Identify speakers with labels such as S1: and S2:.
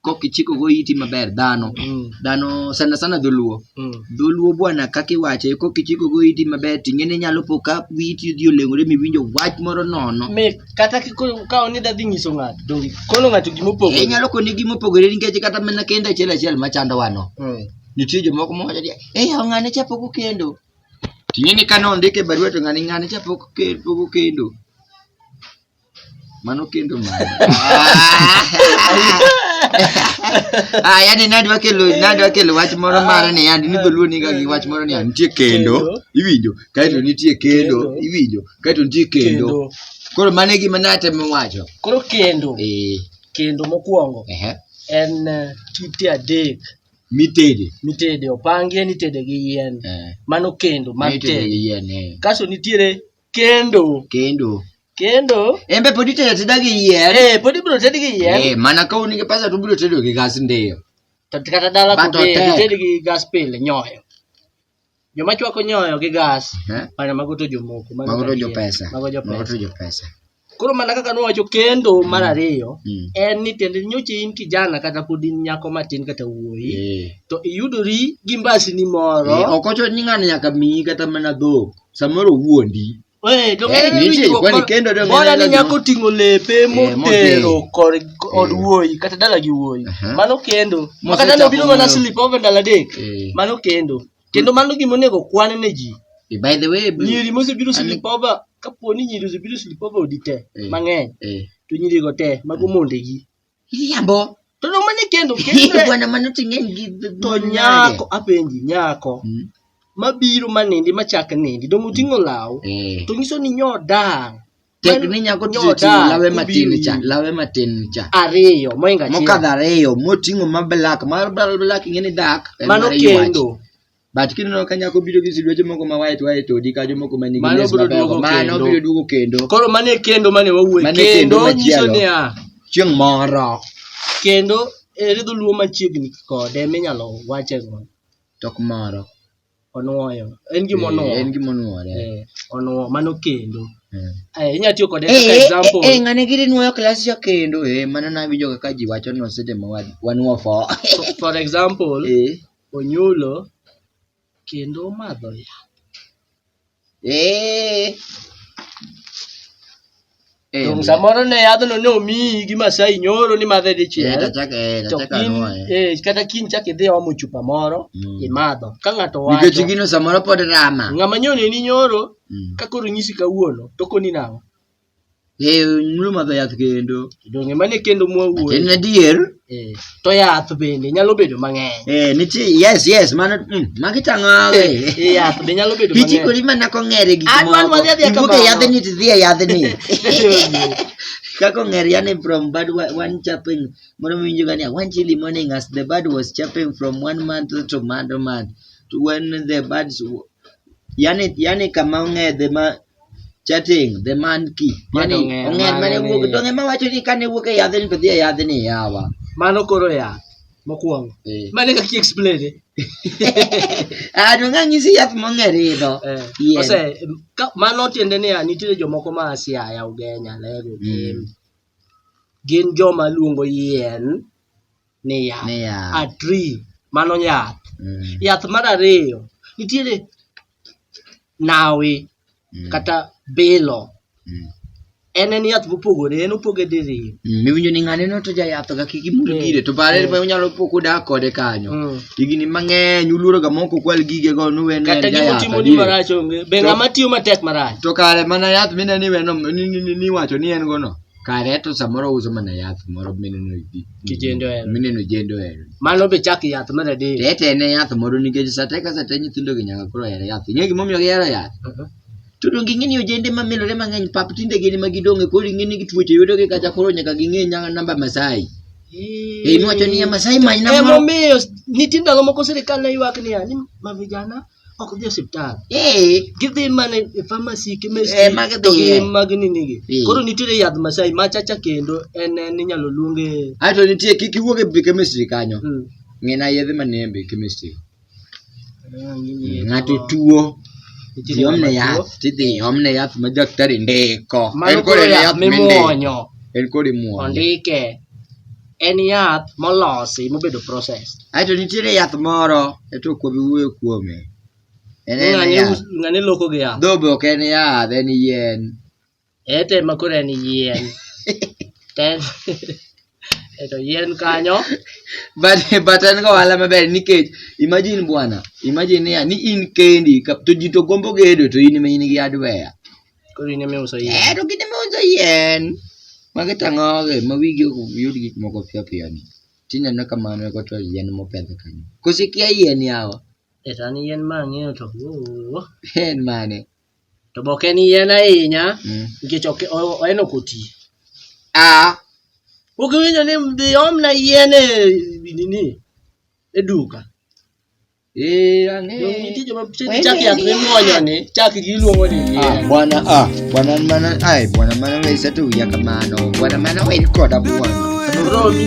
S1: kok ichiko go iti maber dhano Mm. dhano sana sana dholuo Mm. dholuo bwana kaka iwache kok ichiko go iti maber ting'eni inyalo po ka witi odhi oleng'ore miwinjo wach moro nono Mit, kata kiko-
S2: ka oni da dhi nyiso ng'ato donge kono ng'ato gima opogore inyalo koni gima opogore
S1: nikech kata mana kendo achiel achiel machando wano Mm. nitie jomoko mowacho ni eh yaw ng'ane cha pok okendo ting'eni ka nondike barua to ng'ani ng'ane cha pok oke- pok okendo Mano kendo mano. Ah, yani nadwa kelo nadwa kelo wach moro mare ni yani ni dholuo niga gi wach moro ni yani nitie kendo iwinjo kaeto nitie kendo iwinjo kaeto nitie kendo koro mano e gima natemo wacho koro kendo
S2: eh kendo mokwongo ehe en eh, kite adek mitede mitede opangie nitede gi yien eh mano kendo mag mitede tede gi yien eh kaso nitiere kendo kendo kendo embe pod itedo ateda gi yier eh pod ibiro ted gi yien Eh, mana ka un gi pesa to
S1: ubiro tedo gi gas ndiyo to kata dala
S2: But to be otek. gited gi gas pile nyoyo joma chwako nyoyo gi gas Eh? mana mago to jomoko mago mago to jo pesa
S1: mago jo mago to pesa jo pesa Koro mana kaka nowacho
S2: kendo mar mm. ariyo mm. en ni tiende nyocha in kijana kata pod in nyako matin kata wuoyi eh. to iyudori gi mbasini moro eh, ok ocho ni ng'ano nyaka
S1: miyi kata mana dhok samoro wuondi
S2: eh, Bora ni nyako ting'o lepe motero kod wuoyi kata dala gi wuoyi mano kendo makata nobiro mana slip over ndalo adek mano kendo kendo mano gima onego kwan ne ji Eh, by the way Bruce,
S1: nyiri mosebiro Ani-
S2: silipova kapo ni nyiri osebiro silipova odi te Eh. mang'eny eh, to nyirigo te mago mondegi iriambo
S1: to no mane
S2: kendo Hihi, kendo bwana mano
S1: ting'eny gi to nyako
S2: apenji nyako Mm. mabiro manindi machak nindi dong oting'o law Eh, to nyiso ni nyo dang' tek ni nyako
S1: tich Nyoda, oting'o lawe matin ubiri. cha lawe matin cha ariyo moinga
S2: mokadho ariyo moting'o
S1: ma black mar bla- black ing'e ni dak en mano mar yuach. kendo
S2: but kineno
S1: ka nyako biro gi silueche moko ma white white odi kajo moko ma nigi Mano les biro mabeyo duogo mano kendo. biro duogo kendo koro mano e kendo mane
S2: wawuoye Mano e kendo kendo nyiso machielo. niya chieng' moro
S1: kendo
S2: ere dholuo machiegni kode minyalo wache go tok moro
S1: Onwoyo.
S2: En gima onwoyo. En gima onwore. Eh, onwoyo mano kendo. Eh. Eh, inyalo tiyo
S3: kode kaka eh, example. Eh, ng'ane giri nwoyo klas
S1: cha kendo. Eh, mano nawinjo kaka ji wacho no seche ma wanwo fo. For example,
S3: eh. Onyulo kendo omadho yath. Eh. Eh, Donge samoro ne yadhno ne omiyi gi Masai nyoro ni madhe eh, dichiel. tachaka- eh, To tachaka in, anwoye. eh, kata kiny chak idhi omo chupa moro Mm. imadho ka ng'ato wacho Nikech gino samoro pod
S1: rama. ng'ama nyoneni nyoro
S3: Mm. ka koro nyisi kawuono to koni nang'o Eh,
S1: mulo madho yath kendo. Donge mane kendo En
S3: mwawuoyo? adier.
S1: Eh, To yath
S3: bende nyalo bedo mang'eny. Eh, nitie yes yes
S1: mano mm, magi tang'awe. Eh, Yath be nyalo
S3: bedo mang'eny. Ichikori mana kong'ere
S1: gik An man moko. wadhi adhiya Ibuke kamano. yadhni to idhiye yadhni. Kaka ong'er yani from bad wa- one chapping moro miwinjo gani one chili morning as the bird was chapping from one month to another month to when the birds w- yani yani kama ong'edhe ma chatting the man key Ma yani dong'e, ong'er ma mane dong'e wuok ni- dong'e ma wacho ni kane wuok e yadhni to dhi e yadhni yawa mano koro yath
S3: mokwongo Eh. mane kaki explain eh?
S1: ah dong'e anyisi yath mong'er idho Eh, Yien. ose
S3: ka- mano tiende niya nitiere jomoko ma siaya ugenya lego gin Mm. gin joma luongo yien ni yath Ni yath. a tree mano yath Mm. yath mar ariyo nitiere nawi mm. kata bilo mm. en en yath mopogore en opoge diriyo mm. miwinjo ni ng'ane no
S1: to jayath ga kik imul mm. gire to bare mm. unyalo po kudak kode kanyo mm. higni mang'eny uluoro ga moko kwal gige go nuwe ne kata gimo timo ni marach
S3: onge be ng'ama tiyo matek marach to kare mana yath
S1: mineni weno ni wacho ni en go no kare to samoro ouso mana yath moro mineno ji- Kijende ohero. mineno jende ohero Mano
S3: be chak yath mar adek. to ete en yath moro
S1: nikech sate ka sate nyithindogi nyaka koro ohero yath ing'e gimomiyo gihero yath Mhm. to donge ing'e ni ojende mamilore mang'eny pap tinde gin ema gidong'e koro ing'e ni tuoche yudogi kacha koro nyaka ging'e nyaka namba masai e inwacho niya masai manyna moro Emomiyo
S3: nitie ndalo moko sirikal ne ywak niya ni mavijana ok dhi e osiptal Eh, gidhi mana e pharmacy chemist Eh, ma gidhi to gi e. mag nini gi Eh. koro nitiere yadh masai machacha kendo en en inyalo luonge ae to nitie kik iwuog
S1: e bi chemistry kanyo mm. ng'ina yedhe manie e bi chemistry ng'ato tuo Nitiere iomne ng'ama yath tuo. tidhi iomne yath ma daktari ndiko mano en koro kod yath yath
S3: mindiko mimuonyo en kod imuonyo
S1: ondike
S3: en yath molosi mobedo process. Aeto nitiere yath
S1: moro e to kuom iwuoyo kuome. En en Ng'ani
S3: yath. us- ng'ani loko gi yath. Dhobe ok en yath,
S1: en yien. Ete ma
S3: koro en yien. To en- Eto yien kanyo. but
S1: but en ga ohala maber nikech imagine bwana imagine niya ni in kendi ka- to ji to gombo gedo to in ma in gi hardware Koro in ema iuso
S3: yien. Eh, to gin ema uso
S1: yien. Magi tang'oge ma wigi ok yud gik moko piyo piyo ni. Tineno ka mano eko to yien mopedh kanyo. Koso ikia yien yawa? Eh, to an yien ma
S3: ang'eyo to oo. En
S1: mane? To be ok en
S3: yien ahinya Mm. nikech ok o- en ok oti. Ah, Ok iwinjo ni dhi omna yien e nini e duka. Eh, ang'e.
S1: Yo, nitie joma chak Wende chak
S3: yath ni- mimuonyo ni, chak gi iluongo ni yien. Ah, bwana ah, bwana
S1: mana ai bwana mana we satu ya kamano. Bwana mana
S3: we
S1: koda bwana. Romi.